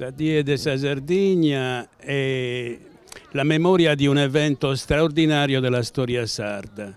Sa die de sa Sardigna è la memoria di un evento straordinario della storia sarda.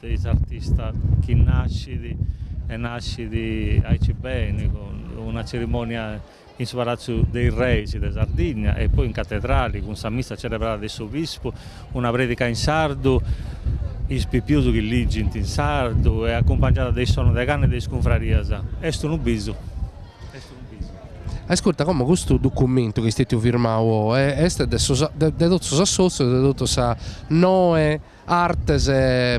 de is artistas chi nascit e nascit aici beni cun una cerimonia in su Palatzu de is Reis de Sardigna e poi in Catedrali cun sa missa celebrada de s'obispu, una predica in sardu, is pipius chi ligint in sardu e acumpangiada de is sonus de canna e de is cunfrarias. Est unu bisu. Est unu bisu. Ascurta, como custu documentu chi est stetiu firmau oe est de de totus is assotzius e de totu sas noe artes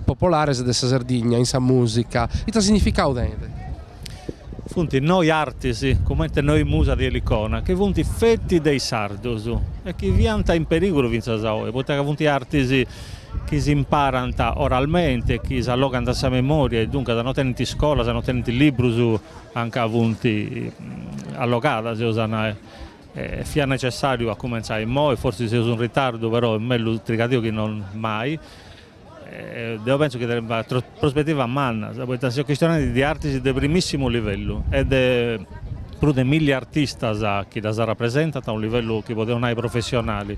popolares de sa Sardigna in sa mùsica, ita significadu tenit? Funt noi artis, comente noi musas de Elicona, chi funt feti de is sardus e chi fiant in perìgulu fintzas a oi, poita ca funt artis chi s'imparant oralmente e chi s'allogant a sa memòria e duncas no tenint iscolas, no tenint librus anca funt allogadas, seus a nai E fiat necessàriu a cumentzai immoi, forsis seus in ritardu, però est mellus trigadìu chi non mai. Deo pentzu chi tenit prospetivas mannas, poita seus chistionendi de artis de primissimu livellu e de prus de milli artistas chi ddas rapresentant a unu livellu chi podeus nai professionali.